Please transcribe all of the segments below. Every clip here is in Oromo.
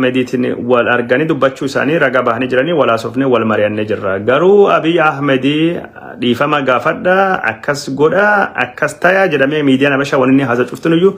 Ahmediitiin wal arganii dubbachuu isaanii ragaa bahanii jiranii wal haasofnee wal mari'annee jirra. Garuu Abiy Ahmedii dhiifama gaafadha akkas godha akkas taya jedhamee miidiyaan Habashaa wanni haasa cuftin iyyuu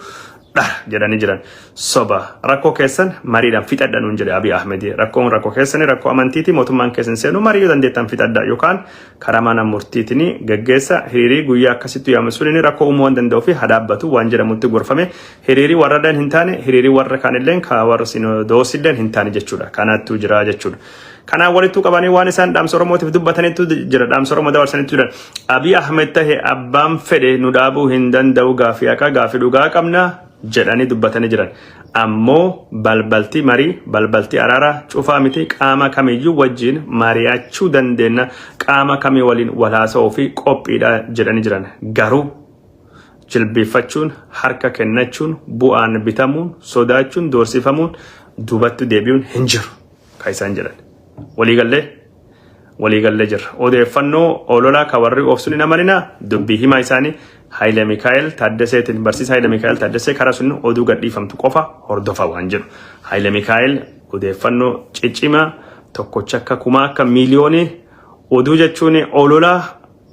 dha jedhanii jiran. Soba rakkoo keessan mariidhaan fixadha nuun jedhe Abiy Ahmedii. Rakkoon rakkoo keessanii rakkoo amantiiti mootummaan keessan seenuu marii yoo dandeettan fixadha yookaan karaa mana murtiitiin gaggeessa hiriirii guyyaa akkasittu yaamsuun inni rakkoo uumuu waan danda'uu fi hadhaabbatu waan jedhamutti gorfame Hiriiri warralleen hin taane hiriiri warra kaanilleen ka warra sinodoosilleen hin taane jechuudha. Kanaattuu jira jechuudha. Kanaan walittuu qabanii waan isaan dhaamsa Oromootiif dubbataniitu jira. Dhaamsa Oromoo dabarsaniitu jira. Abiy Ahmed tahe abbaan fedhe nu dhaabuu hin danda'u gaafii haqaa gaafii dhugaa qabna jedhanii dubbatanii jiran. Ammoo balbaltii marii, balbaltii araaraa cufaa miti qaama kamiyyuu wajjin mari'achuu dandeenya qaama kamii waliin wal haasa'uu fi qophiidha jedhanii jiran. Garuu jilbiiffachuun, harka kennachuun, bu'aan bitamuun, sodaachuun, doorsifamuun, duubatti deebi'uun hin jiru kan isaan jedhan. Waliigallee waliigallee jirra. Odeeffannoo ololaa kan warri oofsuun hin amaninaa dubbii himaa isaanii Haayile Mikaa'el Taaddaseetiin barsiisa Haayile Mikaa'el Taaddasee karaa sun oduu gadhiifamtu qofa hordofa waan jedhu. Haayile Mikaa'el odeeffannoo ciccimaa tokkocha akka kumaa akka miiliyoonii oduu jechuun ololaa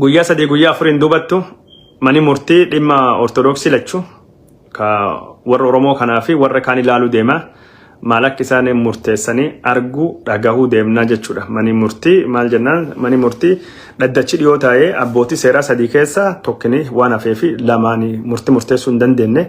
Guyyaa sadii guyyaa afuriin duubattu mani murtii dhimma ortodoksii lachu ka warra Oromoo kanaa fi warra kaan ilaaluu deema. Maal akka isaan murteessanii arguu dhagahuu deemnaa jechuudha. Mani murtii maal jennaan mani murtii dhaddachi dhiyoo taa'ee abbootii seeraa sadii keessaa tokkini waan hafee fi lamaan murtii murteessuu hin dandeenye.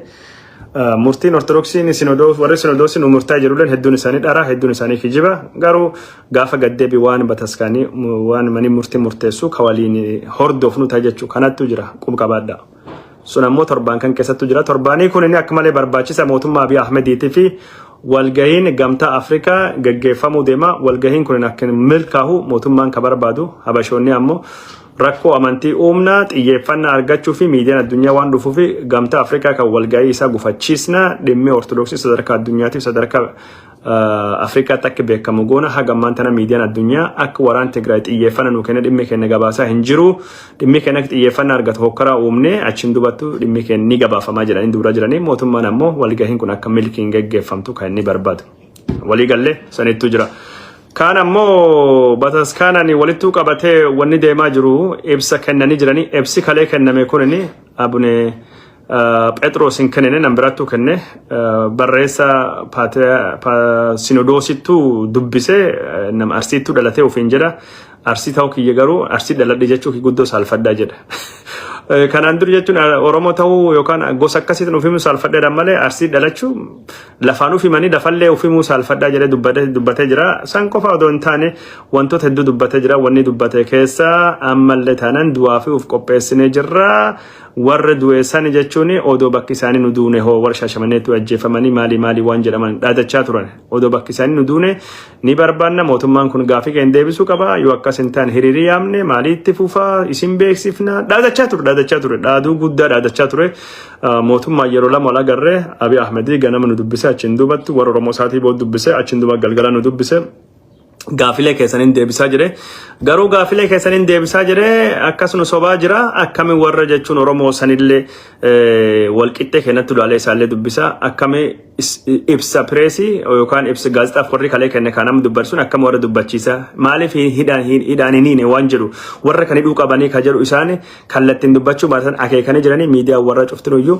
Murtiin Ortodoksiin Sinodoos warri Sinodoosii nu murtaa jedhulleen hedduun isaanii dharaa hedduun isaanii kijiba garuu gaafa gaddeebi waan bataskaanii waan manii murtii murteessu ka waliin hordofnu ta'a jechuu kanattu jira qub qabaadha. Sun ammoo torbaan kan keessattu jira torbaanii kun inni akka malee barbaachisa mootummaa Abiy Ahmediitii fi walgahiin gamtaa Afrikaa gaggeeffamuu deema walgahiin kun akka milkaahu mootummaan ka barbaadu habashoonni ammoo rakkoo amantii uumna, xiyyeeffannaa argachuu fi miidiyaan addunyaa waan dhufuuf gamtaa Afrikaa kan walga'ii isaa gufachiisna, dhimmi Ortodoksii sadarkaa addunyaatiif sadarkaa eh, Afrikaatti akka beekamu goona haga ammaan tana miidiyaan addunyaa akka waraan Tigraay xiyyeeffannaa nuu kenna dhimmi keenya gabaasaa hin jiru dhimmi keenya akka xiyyeeffannaa argatu hokkaraa uumne achiin dubattu dhimmi keenya ni gabaafamaa jedhanii dubra jiranii mootummaan ammoo walgahiin kun akka milkiin geggeeffamtu kan inni barbaadu. Walii gallee sanittuu jira. Kaan ammoo bataskaanaan walittuu qabatee wanni deemaa jiru ibsa kennanii jiranii ibsi kalee kenname kunini abune Phexros hin kennine nan biraattuu kenne barreessa sinodoosittuu dubbise nam arsiittuu dhalatee ofiin jedha Arsii ta'uu kiyya garuu arsii dhaladhe jechuu kiyya guddoo saalfadhaa jedha. Kanaan dur jechuun Oromoo ta'uu yookaan gosa akkasiitiin ofimuu saalfadheedhaan malee arsii dhalachuu lafaan ofimanii lafallee ofimuu saalfadhaa jedhee dubbatee jira. San qofa odoo hin taane wantoota hedduu dubbatee jira. Wanni dubbate keessa ammallee taanaan du'aa fi of qopheessinee jirra. Warra du'e sani jechuun odoo bakki isaanii nu duune hoo warra shaashamanneetti ajjeefamanii maalii maalii waan jedhaman dhaadachaa turan. Odoo bakki isaanii nu duune ni barbaanna mootummaan kun gaafii keenya deebisuu qaba yoo akkas hin taane hiriirii yaamne maalii itti fufaa isin beeksifna dhaadachaa ture dhaadachaa ture dhaaduu guddaa dhaadachaa ture mootummaa yeroo lama wal agarree Abiy Ahmedii ganama nu dubbise achiin duubatti warra Oromoo isaatii booda dubbise achiin duuba galgala nu dubbise gaafilee keessaniin deebisaa jire. Garuu gaafilee keessaniin deebisaa jire akkasuma sobaa jira akkami warra jechuun Oromoo sanillee eh, walqixxee kennatti ulaalee isaallee dubbisa akkami is- ibsa pireesii yookaan ibsa gaazexaaf warri kalee kenne kan nama dubbarsuun akkami warra dubbachiisa maaliif hin- hidhaan hin- hidhaan hin hiine waan jedhu warra kan hidhuu qabanii kan jedhu isaan kallattiin dubbachuu baatan akeekanii jiranii miidiyaa warra cuftinuyyuu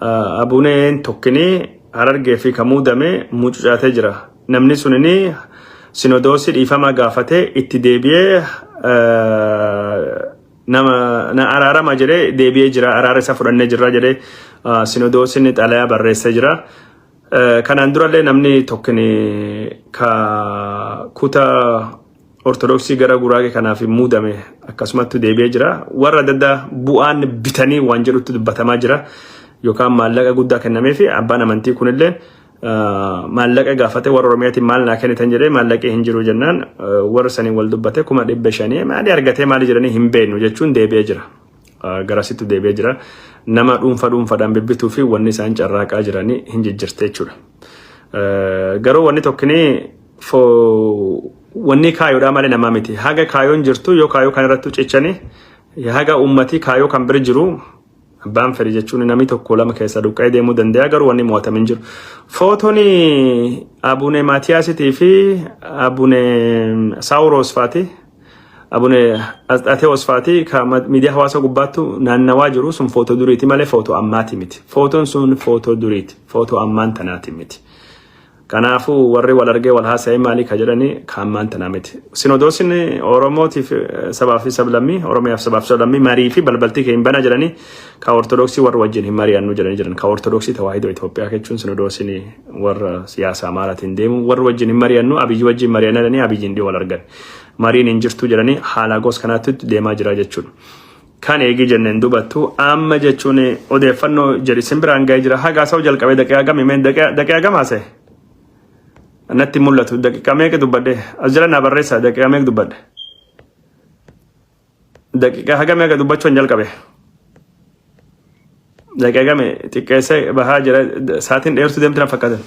Abuneen tokkini harargee fi ka muudame mucucaatee jira. Namni sunini sinodoosii dhiifama gaafatee itti deebi'ee nama na araarama jedhee deebi'ee jira. Araara isa fudhannee jirra jedhee sinodoosiin xalayaa barreessee jira. Kanaan durallee namni tokkini ka kuta Ortodoksii gara Guraagee kanaaf hin muudame akkasumatti deebi'ee jira. Warra adda addaa bu'aan bitanii waan jedhutti dubbatamaa jira. Yookaan maallaqa guddaa kennamee fi abbaan amantii kunillee maallaqa gaafate warra Oromiyaatiin maal naa kennitan jedhee maallaqee hin jiru jennaan warra saniin wal dubbate kuma dhibba shanii maali argatee maali jedhanii hin beeknu jechuun deebi'ee jira. Garasitti deebi'ee jira. Nama dhuunfa dhuunfaadhaan bibbituu fi wanni isaan carraaqaa jiranii hin jijjirte jechuudha. Garuu wanni tokkinii fo wanni kaayoodhaa malee namaa miti haga kaayoon jirtu yoo kaayoo kan irratti cichani haga ummati kaayoo kan bira jiru abbaan fedhe jechuun namni tokko lama keessa duqqee deemuu danda'a garuu wanni mo'atame hin jiru. Footoni abune Maatiyaasitii fi abune Saawuroos faati abune Asxaatewoos faati ka ma- miidiyaa hawaasaa gubbaattu naannawaa jiru sun footoo duriiti malee footoo ammaati miti. Footoon sun footoo duriiti footoo ammaan tanaati miti. Kanaafuu warri wal argee wal haasa'ee maalii ka jedhani ka ammaan tanaa miti. Sinodoosin Oromootiif eh, sabaa fi sablammii, Oromiyaaf sabaa fi sablammii marii fi balbaltii kee hin bana jedhani ka Ortodoksii warra wajjin hin mari'annu jedhani jiran. Ka Ortodoksii Tawaahidoo Itoophiyaa jechuun sinodoosin warra siyaasa Amaaraatiin deemu warra wajjin hin mari'annu abiyyi wajjin mari'anna jedhanii abiyyiin dhiyoo wal argan. Mariin hin jirtu jedhanii haala goos kanaatti deemaa jira jechuudha. Kan eegi jenne hin dubattu amma jechuun odeeffannoo jedhi sin biraan ga'ee jira haga haasa'u jalqabee daqiiqaa gami mee daqiiqaa daqiiqaa gama haasa'e natti hin mul'atu daqiiqaa meeqa dubbadhe as jala naa barreessa daqiiqaa meeqa dubbadhe daqiiqaa haga meeqa dubbachuu hin jalqabe. Daqiiqa me xiqqeessee bahaa jira saatiin dheertuu deemti na fakkaata.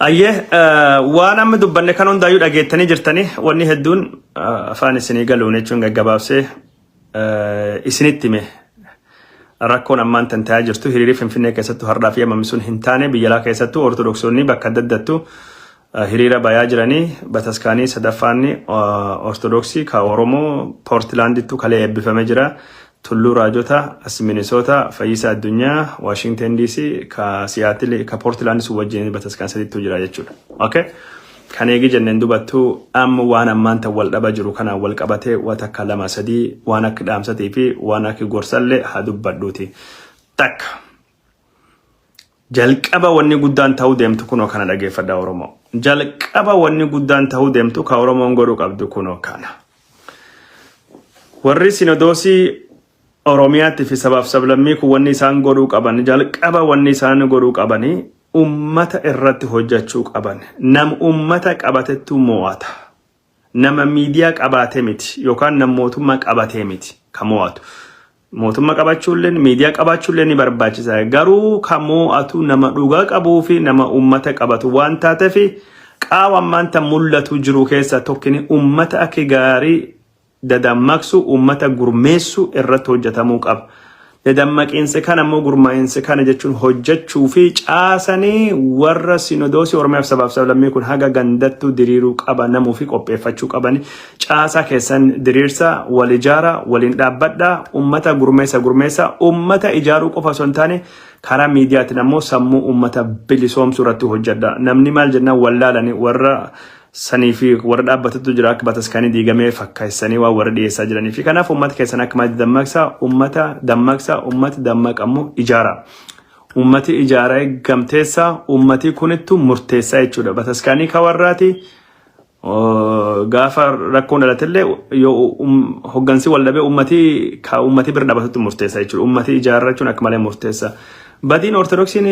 Ayyee eh, waan amma dubbanne kan hundaayyuu dhageettanii jirtanii wanni hedduun eh, afaan isinii galuun jechuun gaggabaabsee eh, isinitti hime rakkoon ammaan tan ta'aa jirtu hiriirii finfinnee keessattuu hardhaa fi hammamisuun hin taane biyyalaa keessattuu ortodoksonni bakka adda addattu hiriira bayaa jiranii bataskaanii sadaffaanni ortodoksii ka oromoo poortilaandittu kalee eebbifame jira tulluu raajota as minisoota fayyisa addunyaa waashingten diisii ka siyaatili ka poortilaandi sun wajjin bataskaan sadittu jira jechuudha okay kan eegi jenneen dubattu amma waan ammaan tan wal dhaba jiru kanaan wal qabatee waa takka lama sadii waan akka dhaamsatii fi waan akka gorsallee haa dubbadhuuti takka Jalqaba wanni guddaan ta'uu deemtu kunoo kana dhageeffadha Oromoo. Jalqaba wanni guddaan ta'uu deemtu ka Oromoon godhuu qabdu kunoo kana. Warri sinodoosii Oromiyaatti fi sabaaf sablammii kun wanni isaan godhuu qaban jalqaba wanni isaan godhuu qabanii ummata irratti hojjachuu qaban. Nam ummata qabatettu mo'ata. Nama miidiyaa qabaate miti yookaan nam mootummaa qabatee miti ka moo'atu. Mootumma qabachuulleen miidiyaa qabaachuullee ni barbaachisa. Garuu ka moo'atu nama dhugaa qabuu fi nama ummata qabatu waan taateef qaawa ammaan tan mul'atu jiru keessaa tokkini ummata akka gaarii dadammaqsu ummata gurmeessu irratti hojjetamuu qaba. Dadammaqiinsa kana immoo gurmaa'insa kana jechuun hojjechuu fi caasanii warra sinodoosii Oromiyaaf sabaaf sablammii kun haga gandattuu diriiruu qaba namuu fi qopheeffachuu qabani. Caasaa keessan diriirsa, wal ijaara, waliin dhaabbadha, ummata gurmeessa gurmeessa, ummata ijaaruu qofa osoo hin taane karaa miidiyaatiin ammoo sammuu ummata bilisoomsuu irratti hojjedha. Namni maal jennaan wallaalani warra sanii fi warra dhaabbatutu jira akka bataskaanii diigamee fakkaessanii waan warra dhiyeessaa jiranii fi kanaaf uummata keessan akka maatti dammaqsaa uummata dammaqsaa uummati dammaqammoo ijaara. Uummati ijaara gamteessaa uummatii kunittu murteessaa jechuudha. Bataskaanii ka warraati gaafa rakkoon dhalatillee yoo hoggansi wal dhabee uummatii ka uummatii bira dhaabatutti murteessaa jechuudha. Uummatii ijaarrachuun akka malee murteessaa. Badiin Ortodoksiin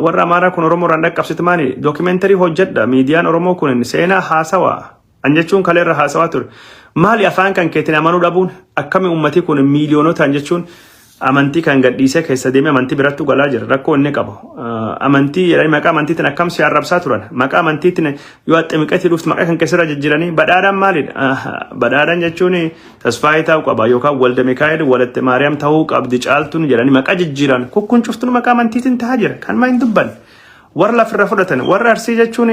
warra Amaaraa kun Oromoo irraan dhaqqabsitu maali? Dookimeentarii hojjedha. Miidiyaan Oromoo kun seenaa haasawaa. An jechuun kalee irra haasawaa ture. Maali afaan kan keetiin amanuu dhabuun akkami uummatii kun miiliyoonotaan jechuun amantii kan gadhiisee keessa deemee amantii birattu galaa jira. Rakkoo inni qabu. Amantii jedhanii maqaa amantiitiin akkam si arrabsaa turan. Maqaa amantiitiin yoo axximiqetii dhuftu maqaa kan keessarra jijjiiranii badhaadhaan maalidha? Badhaadhaan jechuun Tasfaayee ta'uu qaba yookaan Walda Mikaa'el Walatte Maariyaam ta'uu qabdi caaltuun jedhanii maqaa jijjiiran kun kun cuftuun maqaa amantiitiin ta'aa jira kan maa hin dubbanne warra lafirra fudhatan warra arsii jechuun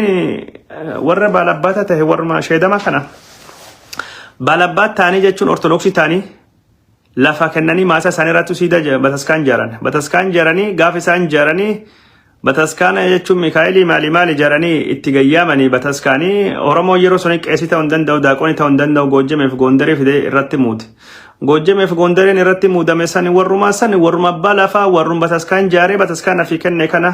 warra baalabbaataa ta'e warra sheedamaa kana baalabbaat ta'anii jechuun ortodoksii ta'anii lafa kennanii maasaa isaanii irratti siida bataskaan jaaran bataskaan jaaranii gaafa isaan jaaranii Bataskaana jechuun Mikaa'elii maali maali jaranii itti gayyaamanii bataskaanii Oromoo yeroo suni qeesii ta'uu hin danda'u daaqoonii ta'uu hin danda'u Goojjameef Goondarii fidee irratti muude. Goojjameef Goondariin irratti muudame sani warrumaa sani warruma abbaa lafaa warrum bataskaan jaaree bataskaana fi kenne kana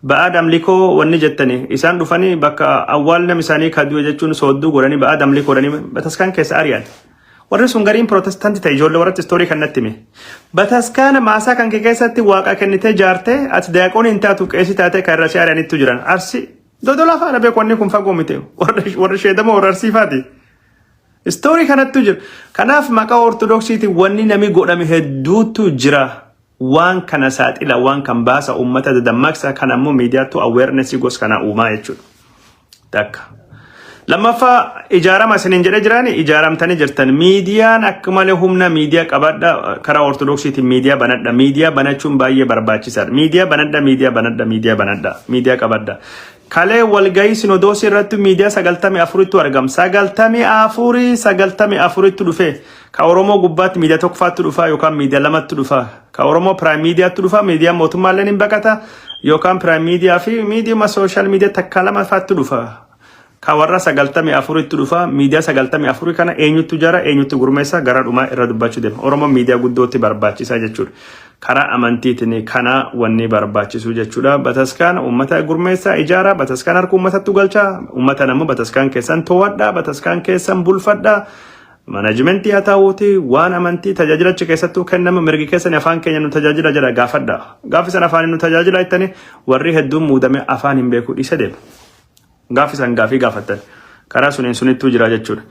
ba'aad amlikoo wanni jettani isaan dhufanii bakka awwaal nam isaanii kaduu jechuun soodduu godhanii ba'aad amlikoo dhanii bataskaan keessa ari'an. Warri sun gariin Pirootestaanti ta'e ijoollee warratti istoorii kan natti hime. Bataskaana maasaa kan kee keessatti waaqa kennitee jaartee ati daaqoonii hin taatu qeesii taatee kan irra si ari'anittu jiran. Arsi dodolaa faana beeku wanni kun fagoo miti. Warri warri sheedamoo warra arsii faati. Istoorii kanattu jira. Kanaaf maqaa ortodoksiitiin wanni nami godhame hedduutu jira. waan kana saaxila waan kan baasa uummata dadammaqsa kan ammoo miidiyaattu awareness gos kana uumaa jechuudha. Takka. Lammaffaa ijaarama isiniin jedhee jiraani ijaaramtanii jirtan miidiyaan akka malee humna miidiyaa qabadha karaa ortodoksiitiin miidiyaa banadha miidiyaa banachuun baay'ee barbaachisaadha miidiyaa banadha miidiyaa banadha miidiyaa banadha miidiyaa qabadha Kalee walgahii sinodoosii irratti miidiyaa 94ttu argam. 94 94ttu dhufee. Ka Oromoo gubbaatti miidiyaa tokkofaattu dhufaa yookaan miidiyaa lamattu dhufaa. Ka Oromoo piraayim miidiyaattu dhufaa miidiyaa mootummaalleen hin baqata yookaan piraayim miidiyaa fi miidiyuma sooshaal miidiyaa takkaa lama faattu dhufa. Ka warra 94ttu dhufa miidiyaa 94 kana eenyuttu jara eenyutti gurmeessa gara dhumaa irra dubbachuu deema. Oromoon miidiyaa guddootti barbaachisa jechuudha. Karaa amantiitiin kana wanni barbaachisuu jechuudha. Bataskaana uummata gurmeessaa ijaaraa, bataskaan harka uummatattu galchaa, uummatan ammoo bataskaan keessan to'adhaa, bataskaan keessan bulfadhaa. Manajimentii haa ta'uuti waan amantii tajaajilachi keessattuu kennama mirgi keessan afaan keenya nu tajaajila jedha gaafadha. Gaafa san afaan nu tajaajila jettanii warri hedduun muudame afaan hin beeku dhiise deema. Gaaffi san gaafii gaafattan. Karaa suniin sunittuu jira jechuudha.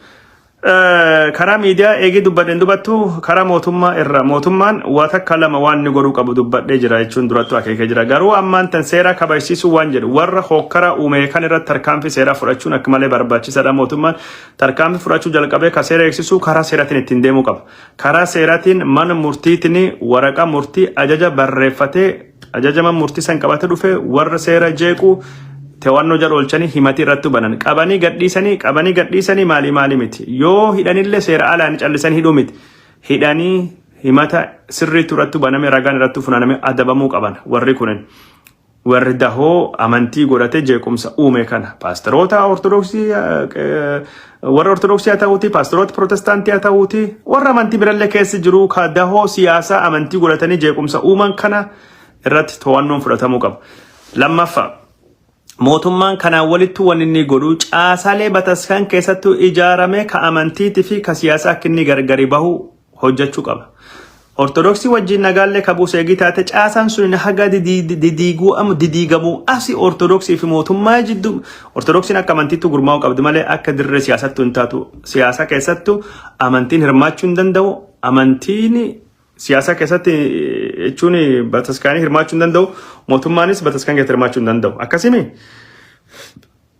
Karaa miidiyaa eegii dubbadheen dubattu karaa mootummaa irra mootummaan waa takka lama waan inni godhuu qabu dubbadhee jira jechuun durattu akeekee jira. Garuu ammaan tan seeraa kabajsiisuu waan jedhu warra hookkaraa uumee kan irratti tarkaanfii seeraa fudhachuun akka malee barbaachisaadha. Mootummaan tarkaanfii fudhachuu jalqabee ka seera eegsisuu karaa seeratiin ittiin deemuu qaba. Karaa seeratiin mana murtiitiin waraqaa murtii ajaja barreeffatee Ajajaman murtii san qabate dhufe warra seera jeequu tewannoo jala oolchanii himatii irratti banan qabanii gadhiisanii qabanii gadhiisanii maalii maalii miti yoo hidhanillee seera alaan callisanii hidhuu miti hidhanii himata sirriitu irratti baname ragaan irratti funaaname adabamuu qaban warri kunin warri dahoo amantii godhate jeequmsa uume kana paasteroota ortodoksii warra ortodoksii haa ta'uuti paasteroota pirootestaantii haa ta'uuti warra amantii birallee keessa jiru ka dahoo siyaasaa amantii godhatanii jeequmsa uuman kana irratti to'annoon fudhatamuu qaba. Lammaffaa mootummaan kanaan walitti waan inni godhu caasaalee bataskaan keessattuu ijaaramee ka amantiitii fi ka siyaasaa akka inni gargari bahu hojjachuu qaba. Ortodoksii wajjin nagaallee kabuu seegii taate caasaan sun haga didiiguu amma didiigamuu asi ortodoksii fi mootummaa jidduu ortodoksiin akka amantiitti gurmaa'uu qabdi malee akka dirree siyaasattu hin taatu. Siyaasa keessattu amantiin hirmaachuu hin danda'u. Amantiin siyaasa keessatti jechuun bataskaanii hirmaachuu hin danda'u. Mootummaanis bataskaan keessatti hirmaachuu hin danda'u. Akkasimi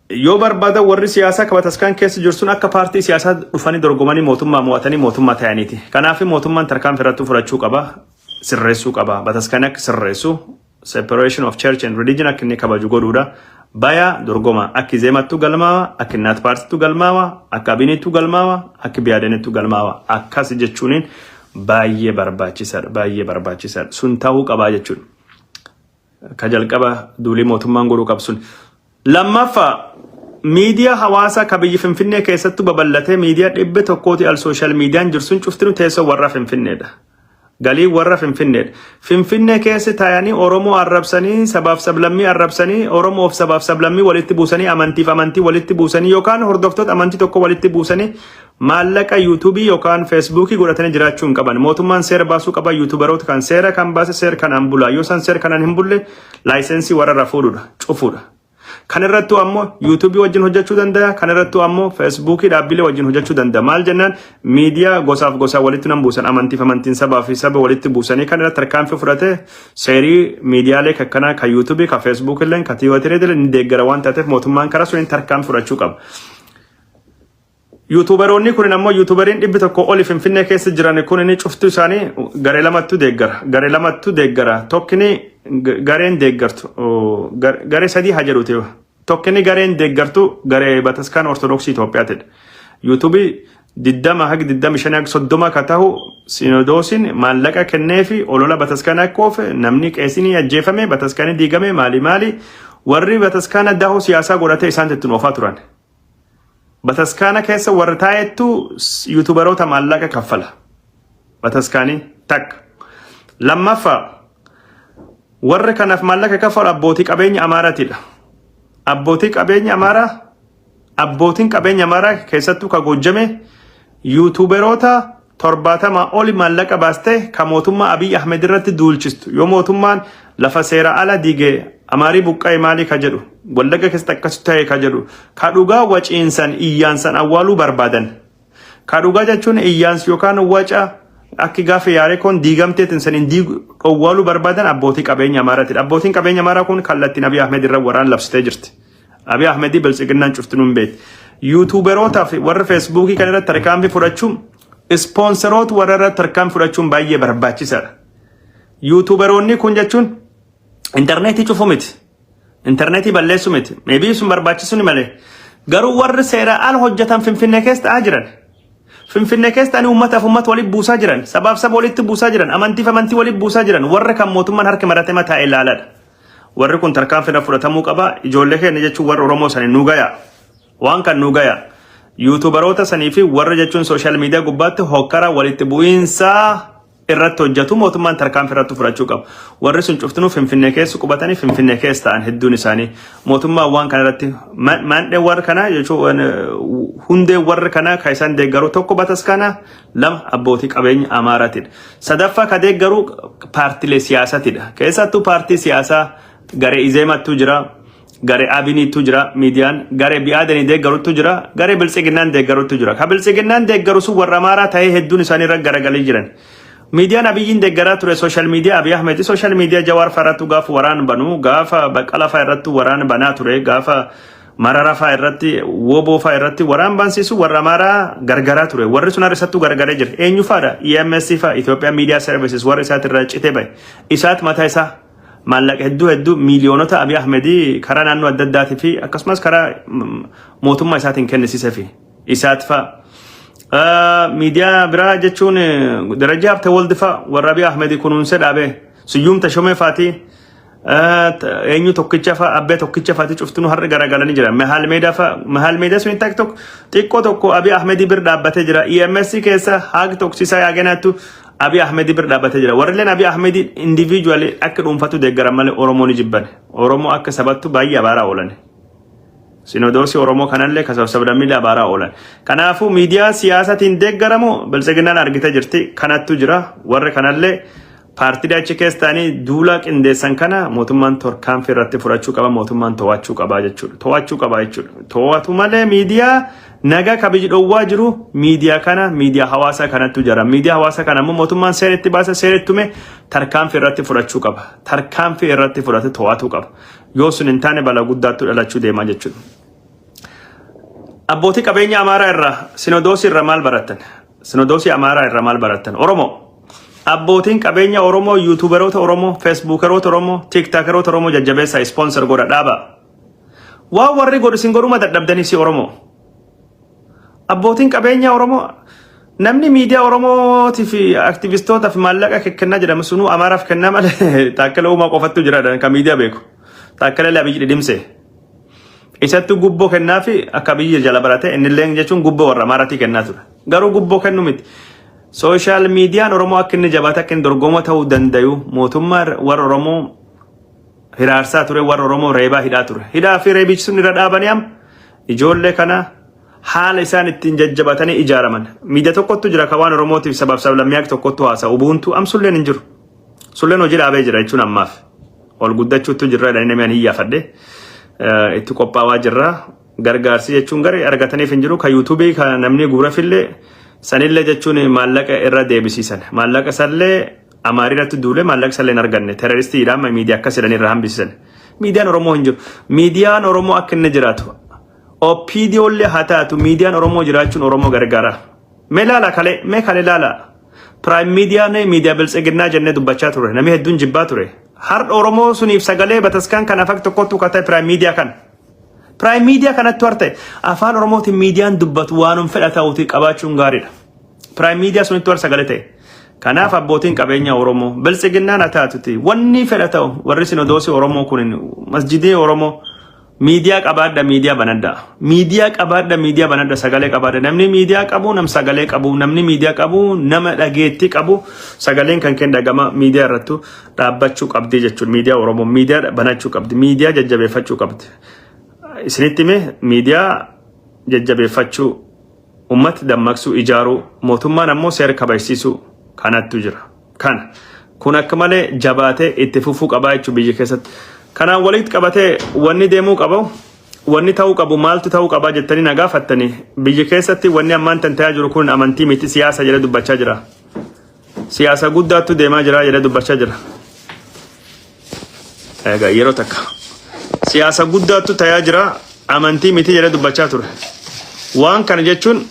Yoo barbaadan warri siyaasaa ka bataskaan keessa jiru sun akka paartii siyaasaa dhufanii dorgomanii mootummaa mo'atanii mootummaa ta'aniiti. Kanaaf mootummaan tarkaanfii irratti fudhachuu qaba, sirreessuu qaba. Bataskaan akka sirreessu separation of church and religion akka inni kabaju godhuudha. Baya dorgoma akki zeemattu galmaawa, akki naat paartittu galmaawa, akka abinittu galmaawa, akki biyaadanittu galmaawa. Akkas jechuuniin baay'ee barbaachisaadha, baay'ee barbaachisaadha. Sun ta'uu qabaa jechuudha. Ka jalqaba duulii mootummaan godhuu qabu sun. Lammaffa miidiyaa hawaasaa ka biyyi Finfinnee keessattu babal'atee miidiyaa dhibbe tokkooti al sooshaal miidiyaan jirsun cuftinu teessoo warra Finfinneedha. Galii warra Finfinneedha. Finfinnee keessa taa'anii Oromoo arrabsanii sabaaf sablammii arrabsanii Oromoof sabaaf sablammii walitti buusanii amantiif amantii walitti buusanii yookaan hordoftoota amantii tokko walitti buusanii Maallaqa YouTube yokaan Facebook godhatani jiraachuu hin qaban. Mootummaan seera baasuu qaba YouTuberoota kan seera kan baase seer kanaan bula. Yoo san seer kanaan hin bulle laayisensii warrarra fuudhudha, cufudha. Kan irrattuu ammoo YouTube wajjin hojjechuu danda'a. Kan irrattuu ammoo Facebook dhaabbilee wajjin hojjechuu danda'a. Maal jennaan miidiyaa gosaaf gosaa walitti nan buusan amantiif amantiin sabaa fi saba walitti buusanii kan irratti tarkaanfii fudhate seerii miidiyaalee kakkanaa kan YouTube kan Facebook illee kan Tiwiiterii illee ni deeggara waan taateef mootummaan karaa suniin tarkaanfii fudhachuu qaba. Yuutuubaroonnii kunin ammoo yuutuubariin dhibbi tokko oli Finfinnee keessa jiran kunin cuftuu isaanii garee lamattu deeggara. Garee lamattu deeggara. Tokkini g- gareen deeggartu oh, gar- garee sadii haa jedhuuti. Tokkini gareen deeggartu garee bataskaan Ortodoksii Itoophiyaatidha. Yuutuubii diddama hagi diddami shan hagi soddoma ka tahu sinodoosiin maallaqa kennee fi olola bataskaana akka oofe namni qeesinii ajjeefame bataskaanii diigame maali maali warri bataskaana dahoo siyaasaa godhatee isaan ittiin oofaa turan. Bataskaana keessa warri taa'ettu yuutubaroota maallaqa kaffala. Bataskaanii takka. Lammaffaa warri kanaaf maallaqa kaffalu abbootii qabeenya Amaaraatiidha. Abbootii qabeenya Amaaraa abbootiin qabeenya Amaaraa keessattuu ka goojjame yuutubaroota 70 oli maallaqa baastee ka mootummaa Abiy Ahmed irratti duulchistu yoo mootummaan lafa seera ala diige Amaarii buqqa'e maalii ka jedhu Wallagga keessatti akkasii ta'e ka jedhu ka dhugaa waciinsan iyyaansan awwaaluu barbaadan ka dhugaa jechuun iyyaansi yookaan waca akki gaafa yaarekoon diigamteetiin saniin diigu dhowwaaluu barbaadan abbootii qabeenya Amaaraati. Abbootiin qabeenya Amaaraa kun kallattiin Abiy Ahmed irra waraan labsitee jirti. Abiy Ahmedii biltsiginnaan cuftinuu hin beekti. Yuutuuberootaa fi warri feesbuukii kan irratti tarkaanfii fudhachuun ispoonseroota warra irratti tarkaanfii fudhachuun baay'ee barbaachisaadha. Yuutuuberoonni kun jechuun intarneetii cufuu miti. Intarneetii balleessuu miti. Meebii sun barbaachisuu ni malee. Garuu warri seeraa al hojjetan Finfinnee keessa ta'aa jiran. Finfinnee keessa ani uummataaf uummata walitti buusaa jiran. Sabaaf saba walitti buusaa jiran. Amantiif amantii walitti buusaa jiran. Warra kan mootummaan harka maratee mataa ilaaladha. Warri kun tarkaanfidha fudhatamuu qaba. Ijoollee keenya jechuun warra Oromoo sani nu gaya. Waan kan nu gaya. Yuutuubaroota sanii fi warra jechuun sooshaal miidiyaa gubbaatti hokkara walitti bu'iinsa irratti hojjetu mootummaan tarkaanfii irratti fudhachuu qaba. Warri sun cuftinuu Finfinnee keessa qubatanii Finfinnee keessa ta'an hedduun isaanii mootummaan waan kana irratti maandhee warra kanaa jechuun hundee warra kanaa kan isaan deeggaru tokko bataskaana lama abbootii qabeenya Amaaraatidha. Sadaffaa ka deeggaru paartilee siyaasatidha. Keessattuu paartii siyaasaa garee Izeemattuu jira, garee Abiniittuu jira, miidiyaan garee Bi'aadanii deeggaruttu jira, garee Biltsiginnaan deeggaruttu jira. Ka Biltsiginnaan deeggaru sun warra Amaaraa ta'ee hedduun isaanii irra garagalii jiran. Miidiyaan Abiyyiin deeggaraa ture sooshaal miidiyaa Abiy Ahmed, sooshaal miidiyaa Jawaar fa'aa irrattuu gaafa waraan banu, gaafa Baqqalaa fa'aa irrattuu waraan banaa ture, gaafa Marara faa irratti woboo faa irratti waraan baansiisu warra amaaraa gargaraa ture warri sun har'isattuu gargaree jira eenyu faadha EMS faa Ethiopian Media Services warri isaati irraa citee bahe isaat mataa isaa maallaqa hedduu hedduu miiliyoonota Abiy Ahmedii karaa naannoo adda addaatii fi akkasumas karaa mm, mootummaa isaatiin kennisiisee fi isaat faa Ah, miidiyaa biraa jechuun eh, darajaa habta waldi faa warra Abiy Ahmedii kunuunsee dhaabee siyyuum tashomee faatii Eenyu tokkicha fa'a abbee tokkicha fa'aati cuftinu har'a garagalanii jira. Mahaal meedaa fa'a mahaal meedaa sun takk tokko xiqqoo tokko Abiy Ahmedii bir dhaabbatee jira. EMS keessa haag toksisaa yaagenaattu Abiy Ahmedii bir dhaabbatee jira. Warrilleen Abiy Ahmedii individually akka dhuunfatu deeggaran malee Oromoo ni jibban. Oromoo akka sabattu baay'ee abaaraa oolan. Sinodoosii Oromoo kanallee kan sabsabdammiillee abaaraa oolan. Kanaafuu miidiyaa siyaasatiin deeggaramu biltsiginnaan argitee jirti. Kanattu jira. Warri kanallee Paartilee achi keessa ta'anii duula qindeessan kana mootummaan tarkaanfii irratti fudhachuu qaba, mootummaan to'achuu qaba jechuudha. To'achuu qaba jechuudha. To'atu malee miidiyaa nagaa kabiji dhowwaa jiru miidiyaa kana miidiyaa hawaasaa kanattu jira. Miidiyaa hawaasaa kana immoo mootummaan seera itti baasa seera itti tume tarkaanfii irratti fudhachuu qaba. Tarkaanfii irratti fudhate to'atuu qaba. Yoo sun hin taane balaa guddaattu dhalachuu deemaa jechuudha. Abbootii qabeenya Amaaraa irraa Sinodoosii irraa maal barattan? Sinodoosii Amaaraa irraa maal barattan? Oromoo. Abbootiin qabeenya Oromoo, yuutuuberoota Oromoo, feesbuukeroota Oromoo, tiiktaakeroota Oromoo jajjabeessaa ispoonsar godha dhaaba. Waan warri godhu isin godhuma dadhabdanii si Oromoo. Abbootiin qabeenya Oromoo namni miidiyaa Oromootii fi aktivistoota fi maallaqa kennaa jedhamu sunuu Amaaraaf kennaa malee taakkala uumaa qofattu jiraadha kan miidiyaa beeku. Taakkala Abiyyi dhidhimse. Isattu gubboo kennaafi akka biyya jala barate innilleen jechuun gubboo warra Amaaratii kennaa ture. Garuu gubboo kennu miti. Sooshaal miidiyaan Oromoo akka inni jabaate akka inni dorgomoo ta'uu dandayu mootummaa warra Oromoo hiraarsaa ture warra Oromoo reebaa hidhaa ture. Hidhaa fi reebichi sun irra dhaabanii amma ijoollee kana haala isaan ittiin jajjabatanii ijaaraman. Miidiyaa tokkottu jira kan waan Oromootiif sabaaf sablammiyaak tokkottu haasa'u. Ubuuntu amsulleen hin jiru. Sulleen hojii dhaabee jira jechuun ammaaf ol guddachuuttu jirra jedhanii namni ani iyyaafadhe eh, itti qophaawaa jirra. Gargaarsi jechuun garee argataniif hin jiru. Kan yuutuubii kan namni guurafillee sanillee jechuun maallaqa irra deebisiisan. Maallaqa sallee amaarii irratti duulee maallaqa sallee hin arganne. Teroristii jedhama miidiyaa akkas jedhanii irra hambisiisan. Miidiyaan Oromoo hin jiru. Miidiyaan Oromoo akka inni jiraatu. OPDOllee haa taatu miidiyaan Oromoo jiraachuun Oromoo gargaara. Mee laala kalee, mee kalee laala. Prime Media ne media biltsiginnaa jennee dubbachaa ture. Namni hedduun jibbaa ture. Har'a Oromoo suniif sagalee bataskaan kana fak tokkottu kata Prime Media kana. Prime Media kanattu harte afaan Oromootiin miidiyaan dubbatu waanum fedha ta'uuti qabaachuun gaariidha. Prime Media sunittu har'a sagalee ta'e. Kanaaf abbootiin qabeenya Oromoo biltsiginnaan haa taatuti wanni fedha ta'u warri sinodoosii Oromoo kun masjidii Oromoo Miidiyaa qabaadha miidiyaa banadha. Miidiyaa qabaadha miidiyaa banadha sagalee qabaadha. Namni miidiyaa qabu nam sagalee qabu namni miidiyaa qabu nama dhageettii qabu sagaleen kan keen dhagama miidiyaa irrattu dhaabbachuu qabdi jechuudha. Miidiyaa Oromoo miidiyaa banachuu qabdi miidiyaa jajjabeeffachuu qabdi. Isinitti mee miidiyaa jajjabeeffachuu Ummata dammaqsuu, ijaaruu, mootummaan ammoo seera kabajsiisuu kanattu jira. Kana. Kun akka malee jabaatee itti fufuu qabaa jechuun biyya keessatti. Kanaan walitti qabatee wanni deemuu qabu, wanni ta'uu qabu maaltu ta'uu qabaa jettanii na gaafattanii biyya keessatti wanni ammaan tan ta'aa jiru kun amantii miti siyaasa jedhee dubbachaa jira. Siyaasa guddaattu deemaa jira jedhee dubbachaa jira. Egaa yeroo takka siyaasa guddaattu tayaa jira amantii miti jedhee dubbachaa ture. Waan kana jechuun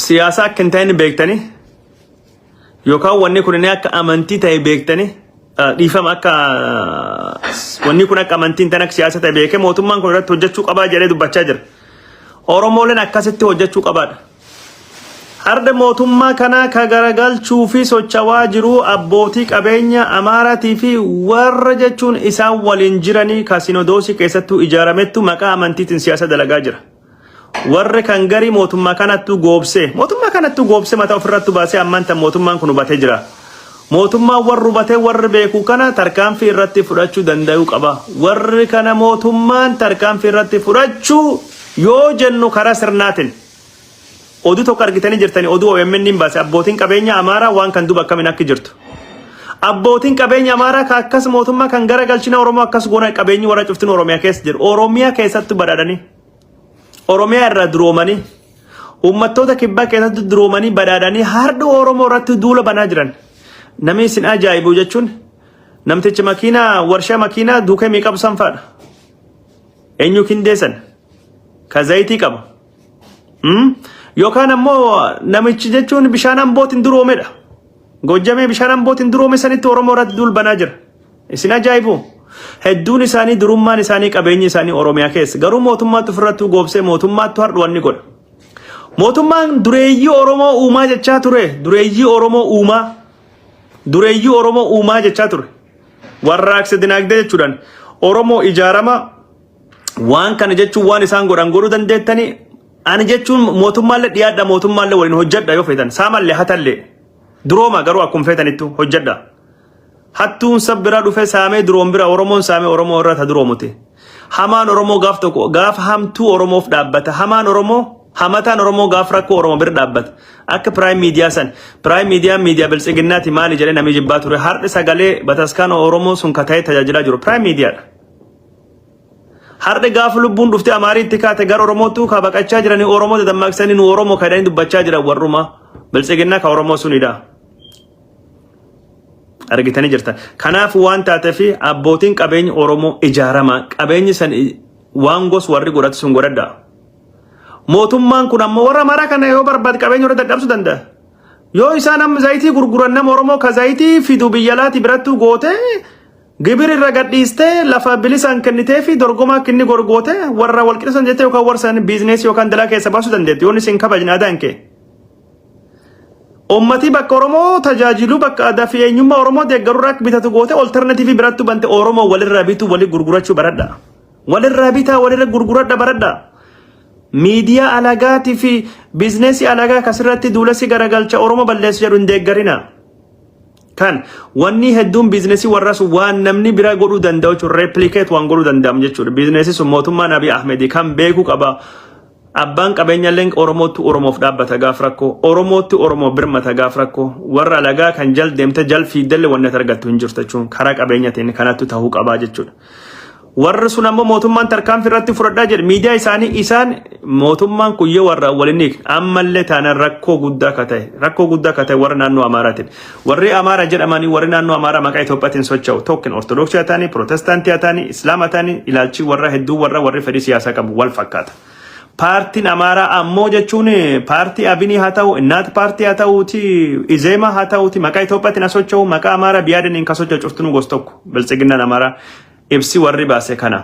siyaasa akka hin taane beektanii yookaan wanni kun inni akka amantii ta'e beektanii ah, dhiifama akka wanni kun akka amantii hin taane akka siyaasa ta'e beekee mootummaan kun irratti hojjechuu qabaa jedhee dubbachaa jira. Oromooleen akkasitti hojjechuu qabaadha. Har'a mootummaa kanaa ka garagalchuu fi sochawaa jiruu abbootii qabeenya Amaaraatii fi warra jechuun isaan waliin jiranii ka sinodoosii keessattuu ijaaramettu maqaa amantiitiin siyaasa dalagaa jira. Warri kan garii mootummaa kanattuu goobsee mootummaa kanattuu goobsee mataa ofirrattu baasee ammaan tan mootummaan kun hubatee jira. Mootummaan warri hubatee warri beeku kana tarkaanfii irratti fudhachuu danda'uu qaba. Warri kana mootummaan tarkaanfii irratti fudhachuu yoo jennu karaa sirnaatiin. Oduu tokko argitanii jirtani oduu OMN baase abbootiin qabeenya Amaaraa waan kan duba akkamin akki jirtu. Abbootiin qabeenya Amaaraa ka akkas mootummaa kan gara galchina Oromoo akkas goona qabeenyi warra cuftin Oromiyaa keessa jiru. Oromiyaa keessatti badhaadhanii. Oromiyaa irraa duroomanii. Uummattoota kibbaa keessatti duroomanii badhaadhanii hardha Oromoo irratti duula banaa jiran. Namni isin ajaa'ibu jechuun namtichi makiinaa warshaa makiinaa duukee miiqabu sanfaadha. Eenyu kindeessan? ka zayitii qabu Mm? yookaan ammoo namichi jechuun bishaan ambootiin duroomedha gojjamee bishaan ambootiin duroome sanitti oromoo irratti duul banaa jira isin ajaa'ibu hedduun isaanii durummaan isaanii qabeenyi isaanii oromiyaa keessa garuu mootummaatti ofirrattuu goobsee mootummaatti hardhuwan ni godha mootummaan dureeyyii oromoo uumaa jechaa ture dureeyyii oromoo uumaa dureeyyii oromoo uumaa jechaa ture warraaqsa dinaagdee jechuudhaan oromoo ijaarama Waan kana jechuun waan isaan godhan godhuu dandeettanii ani jechuun mootummaallee dhiyaadha mootummaallee waliin hojjedha yoo feetan saamallee hatallee durooma garuu akkuma feetanittu hojjedha. Hattuun sab bira dhufe saamee duroom bira Oromoon saamee Oromoo irra ta duroomute. Hamaan Oromoo gaaf tokko gaaf hamtuu Oromoof dhaabbata. Hamaan Oromoo hamataan Oromoo gaaf rakkoo Oromoo bira dhaabbata. Akka Prime Media san Prime Media Media Biltsiginnaati maali jedhee namni jibbaa ture har'i sagalee bataskaana Oromoo sun ka ta'e tajaajilaa jiru Prime Media dha. Har'a gaafa lubbuun dhuftee Amaariitti kaate gara Oromootu ka baqachaa jiranii Oromoo dadammaqsanii nu Oromoo kadhanii dubbachaa jiran warrumaa biltsiginnaa ka Oromoo sunidha. Argitanii jirtan. Kanaaf waan taateef abbootiin qabeenya Oromoo ijaaramaa qabeenyi san waan gos warri godhatu sun godhadha. Mootummaan kun ammoo warra maraa kana yoo barbaade qabeenya irra dadhabsu danda'a. Yoo isaan amma zayitii gurguran nama Oromoo ka zayitii fidu biyya alaati birattuu gootee Gibir irra gadhiistee lafa bilisaan kennitee fi dorgomaa kinni gorgoote warra wal qixisan jettee yookaan warsan biizneesii yookaan dalaa keessa baasuu dandeetti. Yoon isin kabajne adaan kee. Uummatii bakka Oromoo tajaajiluu bakka aadaa fi eenyummaa Oromoo deeggaruu irraa bitatu goote oltarnatiivii birattu bante Oromoo walirraa bituu walii gurgurachuu baradha. Walirraa bitaa walirra gurguradha baradha. Miidiyaa alagaatii fi biizneesii alagaa akkasirratti duulessi garagalcha Oromoo balleessu jedhu hin deeggarina. Kan wanni hedduun biizinesii warraa sun waan namni biraa godhuu danda'u jechuudha. Replikeet waan godhuu danda'amu jechuudha. Biizinesii sun mootummaan Abiy Ahmedii kan beekuu qaba. Abbaan qabeenyallee Oromootti Oromoof dhaabbata gaaf rakkoo. Oromootti Oromoo birmata gaaf rakkoo. Warra alagaa kan jal deemte jal fiiddelle wanni ati argattu hin jirtu jechuun karaa qabeenyatiin kanattu ta'uu qabaa jechuudha. Warri sun ammoo mootummaan tarkaanfii irratti fudhadhaa jedhe. Miidiyaa isaanii isaan mootummaan kun yoo warra waliin hiikne ammallee taanaan rakkoo guddaa akka ta'e rakkoo guddaa akka ta'e warra naannoo Amaaraatiin. Warri Amaara jedhamanii warri naannoo Amaaraa maqaa Itoophiyaatiin socho'u tokkin Ortodoksii haa ta'anii, Pirootestaantii haa ta'anii, Islaama haa ta'anii ilaalchii warra hedduu warra warri fedhii siyaasaa qabu wal fakkaata. Paartiin Amaaraa ammoo jechuun paartii Abinii haa ta'u, Innaat paartii haa ta'uuti, Izeemaa haa ta'uuti, maqaa Itoophiyaatiin haa socho'u, maqaa Amaaraa biyaadaniin kan socho'u cuftinuu gosa tokko. Biltsiginnaan Amaaraa ibsi warri baase kana.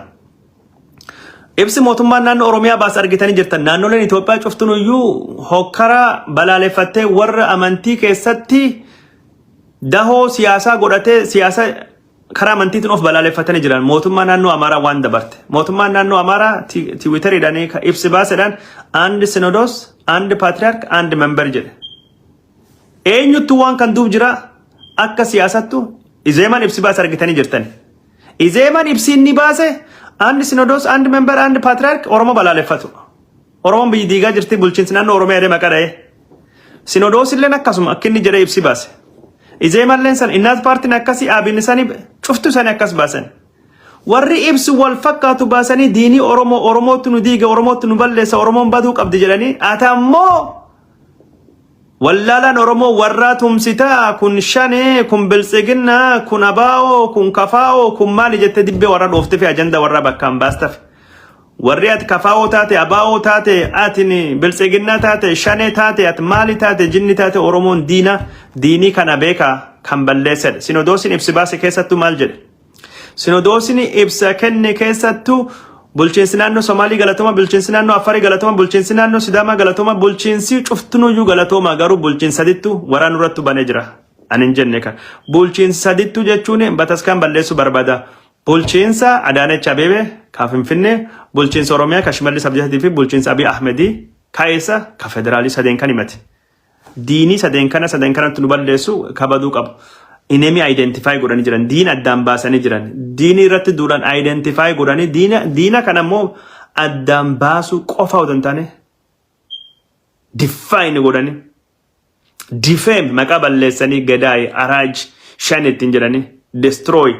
Ibsi mootummaan naannoo Oromiyaa baase argitanii jirtan. Naannoleen Itoophiyaa cuftinuu iyyuu hokkara balaaleffattee warra amantii keessatti dahoo siyaasaa godhatee siyaasa karaa amantiitiin of balaaleffatanii jiran mootummaa naannoo Amaaraa waan dabarte. Mootummaan naannoo Amaaraa tiwiitariidhaan ibsi baasedhaan and sinodos and patriarch and member jedhe. Eenyuttu waan kan duub jira akka siyaasattu izeeman ibsi baase argitanii jirtan. Izeeman ibsi inni baase and sinodos and member and patriarch Oromoo balaaleffatu. Oromoon biyyi diigaa jirti bulchiinsi naannoo Oromiyaa jedhee maqaa dha'ee. Sinodoosilleen akkasuma akka inni jedhee ibsi baase. Izeemalleen san innaat paartiin akkasii aabin isanii cuftu isanii akkas baasan. Warri ibsi wal fakkaatu baasanii diinii Oromoo Oromootu nu diiga Oromootu nu balleessa Oromoon baduu qabdi jedhanii ata ammoo Wallaalaan Oromoo warraa tumsitaa kun shanee kun biltsiginnaa kun abaa'oo kun kafaa'oo kun maali jettee dibbee warra dhoofte fi ajanda warraa bakkaan baastaf. Warri ati kafaa'oo taate abaa'oo taate ati biltsiginnaa taate shanee taate ati maali taate jinni taate Oromoon diina diinii kana beeka kan balleessedha. Sinodoosiin ibsi baase keessattuu maal jedhe? Sinodoosni ibsa kenne keessattu bulchiinsi naannoo Somaalii galatoma, bulchiinsi naannoo Affarii galatoma, bulchiinsi naannoo Sidaamaa galatoma, bulchiinsi cuftunuyyuu galatoma garuu bulchiinsi sadittu waraa nurrattu bane jira. Anin jenne kan bulchiinsi sadittu jechuun bataskaan balleessu barbada. Bulchiinsa Adaanech Abeebee ka Finfinnee, bulchiinsa Oromiyaa ka Shimallis Abdiisatii fi bulchiinsa Abiy Ahmedii ka eessa ka federaalii sadeen kan himate. Diinii sadeen kana sadan kanatti nu balleessu kabaduu qabu. Inemi identify godhanii jiran. Diina addaan baasanii jiran. Diinii irratti duulan identify godhanii diina, diina kana immoo addaan baasuu qofa otoo hin taane define godhanii defame maqaa balleessanii gadaay araaj shan ittiin jedhanii destroy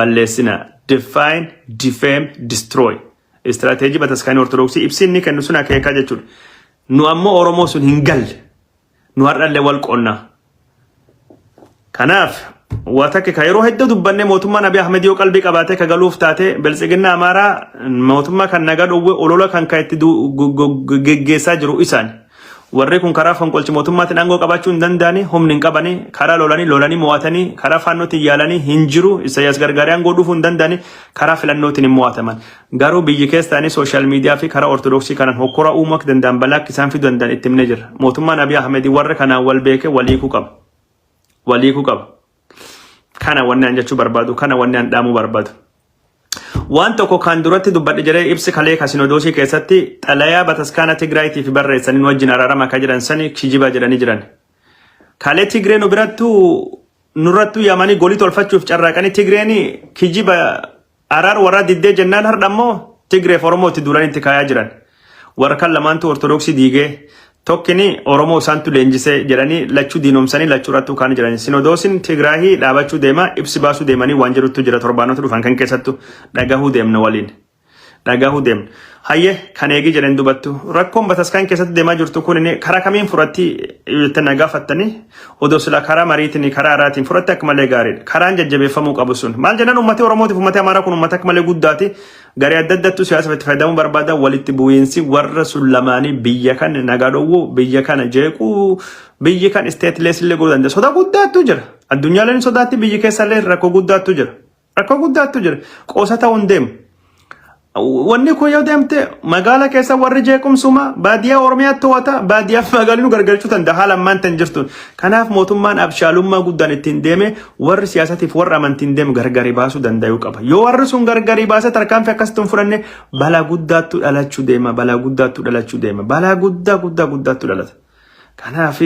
balleessina define defame destroy istirateejii bataskaanii ortodoksii ibsiin ni kennu sun akeekaa jechuudha. Nu ammoo Oromoo sun hin galle. Nu har'allee wal qonnaa. Kanaaf waa takka ka yeroo hedduu dubbanne mootummaan Abiy Ahmed yoo qalbii qabaatee ka galuuf taate biltsiginna Amaaraa mootummaa kan nagaa dhowwe olola kan ka itti du- go- go- geggeessaa jiru isaan. Warri kun karaa fonqolchi mootummaatiin aangoo qabaachuu hin danda'ani, humni hin qabani, karaa lolanii lolanii mo'atanii, karaa faannootiin yaalanii hin jiru, Isaayyaas gargaaree aangoo dhufuu hin danda'ani, karaa filannootiin hin mo'ataman. Garuu biyyi keessaanii social media fi karaa Ortodoksii kanan hokkora uumuu akka danda'an balaa akka isaan fiduu danda'an itti himnee jirra. Mootummaan Abiy Ahmed warra kanaan wal beekee wal hiikuu qaba. Wal hiikuu qaba. Kana wanni an jechuu barbaadu, kana wanni an dhaamuu barbaadu. Waan tokko kan duratti dubbadhe jedhee ibsi kalee kasinodoosii keessatti xalayaa bataskaana Tigraayitii fi barreessanii nu wajjin araarama akka jedhan sani kijiba jedhanii jiran. Kalee Tigree nu birattu nurrattu yamanii golii tolfachuuf carraaqanii Tigreen kijiba Araar warraa diddee jennaan hardha ammoo Tigreef Oromoo itti duulanii itti kaayaa jiran. Warrkan lamaantuu Ortodoksii diigee tokkini Oromoo isaantu leenjisee jedhanii lachuu diinomsanii lachuu irrattuu kaanii jiran. Sinodoosin Tigraahii dhaabachuu deema ibsi baasuu deemanii waan jedhuttu jira torbaanota dhufan kan keessattu dhagahuu deemna waliin. Dhagahuu deemna. Hayyee kan eegii jedheen dubattu rakkoon bataskaan keessatti deemaa jirtu kun karaa kamiin furatti jettanii na gaafattanii odoo sila karaa mariitiin karaa araatiin furatti akka malee gaariidha. Karaan jajjabeeffamuu qabu sun. Maal jennaan uummatni Oromootiif uummatni Amaaraa kun uummata akka malee guddaati. Garee adda addattu siyaasa itti fayyadamuu barbaada. Walitti bu'iinsi warra sun lamaanii biyya kan nagaa dhowwuu, biyya kana jeequu, biyyi kan isteetilees illee godhuu danda'a. Soda guddaattu jira. Addunyaaleen sodaatti biyyi keessallee rakkoo guddaattu jira. Rakkoo guddaattu jira. Qoosa ta'uun deema. Wanni kun yoo deemte magaala keessa warri jeequmsuma baadiyyaa Oromiyaa to'ata baadiyyaa fi magaalli nu gargalchuu danda'a haala ammaan tan jirtuun. Kanaaf mootummaan abshaalummaa guddaan ittiin deeme warri siyaasatiif warra amantiin deemu gargari baasuu danda'uu qaba. Yoo warri sun gargari baasee tarkaanfii akkasitti hin fudhanne balaa guddaattu dhalachuu deema balaa guddaattu dhalachuu deema balaa guddaa guddaa guddaattu dhalata. Kanaaf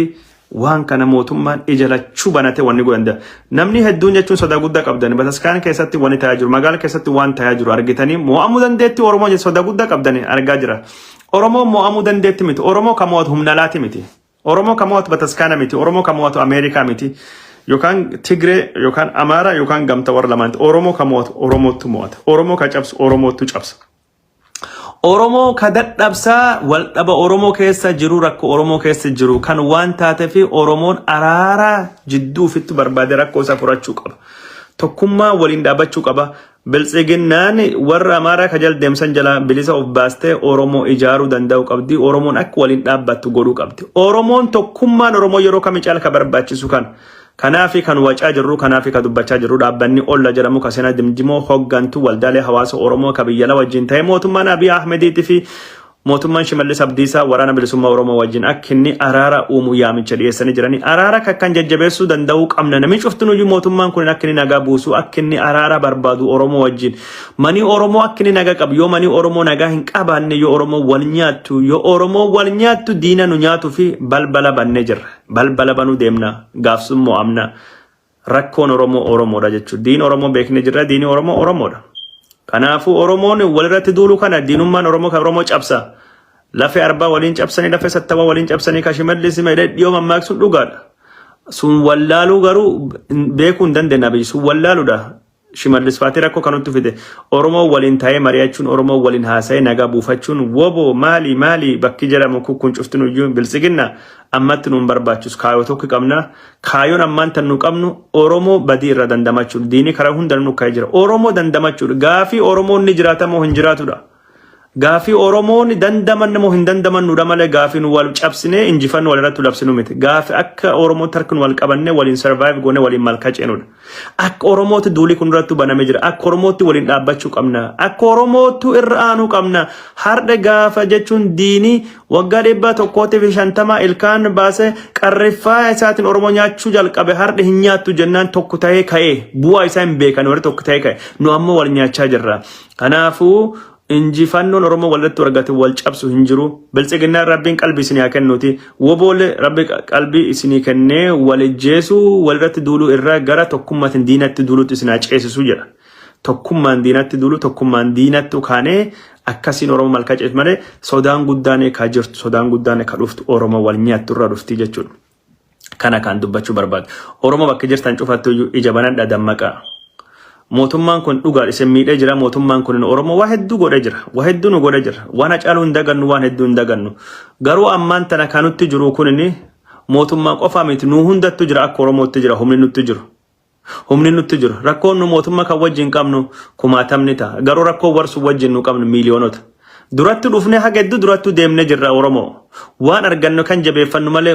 waan kana mootummaan ija lachuu banatee wanni godhan da- namni hedduun jechuun sodaa guddaa qabdan bataskaana keessatti wanni ta'aa jiru magaala keessatti waan ta'aa jiru argitanii mo'amuu dandeetti oromoo jechuun sodaa guddaa qabdan argaa jira oromoo mo'amuu dandeetti miti oromoo kan mo'atu humna alaati miti oromoo kan mo'atu bataskaana miti oromoo kan mo'atu ameerikaa miti yookaan tigree yookaan amaara yookaan gamta warra lamaanti oromoo kan mo'atu oromootu mo'ata oromoo kan cabsu oromootu cabsa Oromoo ka dadhabsa waldhaba Oromoo keessa jiru rakko Oromoo keessa jiru kan waan taatefi Oromoon araara jidduu ofitti barbaade rakkoo isaa furachuu qaba. Tokkummaa waliin dhaabachuu qaba. Biltsiginnaan warra Amaaraa ka jal deemsan jala bilisa of baastee Oromoo ijaaruu danda'uu qabdi. Oromoon akka waliin dhaabbattu godhuu qabdi. Oromoon tokkummaan Oromoo yeroo kami caala ka barbaachisu kana. Kanaafi kan wacaa jirruu kanaafi ka dubbachaa jirruu dhaabbanni olla jedhamu ka sena dimdimoo hoggantu waldaalee hawaasa oromoo ka biyyala wajjin ta'ee mootummaan abiy ahmediiti fi mootummaan shimallis abdiisaa waraana bilisummaa oromoo wajjin akka inni araara uumu yaamicha dhiyeessanii jiranii araara kakkan jajjabeessuu danda'uu qabna namni cuftinuyyuu mootummaan kun akka inni nagaa buusuu akka inni araara barbaadu oromoo wajjin manii oromoo akka inni nagaa qabu yoo manii oromoo nagaa hin qabaanne yoo oromoo wal nyaattu yoo oromoo wal nyaattu diina nu nyaatuu fi balbala bannee jirra. Balbala banuu deemna. Gaafsun mo'amna. Rakkoon Oromoo Oromoodha jechuudha. Diin Oromoo beeknee jirra. Diini Oromoo Oromoodha. Kanaafuu Oromoon walirratti duulu kana diinummaan Oromoo kan Oromoo cabsa. Lafee arbaa waliin cabsanii, lafee sattawaa waliin cabsanii, kashimallis dhiyoo mammaaksuun dhugaadha. Sun wallaaluu garuu beekuu hin dandeenye abiyyi. Sun wallaaludha. Shimallis faati rakko kanuttu fide oromoo walin tae mariachuun oromoo walin haasae naga buufachuun wobo maali maali bakki jedhamu kukkun cuftinuyyu biltsiginna ammatti nun barbaachus kaayo tokki qabna kaayon ammaan tan nu qabnu oromoo badii irra dandamachudh diini kara hundanu nu kae jira oromoo dandamachudh gaafi oromoon ni jiraata moo hin jiraatudha Gaafii Oromoon dandamanne moo hin dandamannudha malee gaafii nu wal cabsinee injifannu walirratti labsinu miti. Gaafi akka Oromoo tark nu wal qabannee waliin survive goone waliin malkaa ceenudha. Akka Oromootti duulii kun irrattu baname jira. Akka Oromootti waliin dhaabbachuu qabna. Akka Oromoottu irra aanuu qabna. Hardha gaafa jechuun diinii waggaa dhibbaa tokkootii fi shantamaa ilkaan baasee qarriffaa isaatiin Oromoo nyaachuu jalqabe hardha hin nyaattu jennaan tokko ta'ee ka'ee bu'aa isaa hin beekan warri tokko ta'ee ka'e. Nu ammoo wal nyaachaa jirra. Kanaafuu injifannoon Oromoo walirratti wargate wal cabsu hin jiru. Biltsiginnaan Rabbiin qalbii isinii haa kennuuti. Woboole Rabbi qalbii isinii kennee wal ijjeesuu walirratti duuluu irra gara tokkummaatiin diinatti duuluutti isin haa ceesisuu jedha. Tokkummaan diinatti duulu tokkummaan diinatti ukaanee akkasiin Oromoo malkaa ceessu malee sodaan guddaan ekaa jirtu sodaan guddaan eka dhuftu Oromoo wal nyaattu irra dhufti jechuudha. kana kan dubbachuu barbaadu. Oromoo bakka jirtan cufattu iyyuu ija banadha dammaqa. Mootummaan kun dhugaa isin miidhee jira. Mootummaan kun Oromoo waa hedduu godhee jira. Waa hedduu nu godhee jira. Waan hacaaluu hin dagannu waan hedduu hin dagannu. Garuu ammaan tana kan nutti jiru kun mootummaa qofaa miti nu hundattu jira akka Oromootti jira humni nutti jiru. Humni nutti jiru. Rakkoon nu mootummaa kan wajjin qabnu kumaatamni ta'a. Garuu rakkoo warsu wajjin nu qabnu miiliyoonota. Duratti dhufnee haga hedduu durattuu deemnee jirra Oromoo. Waan argannu kan jabeeffannu malee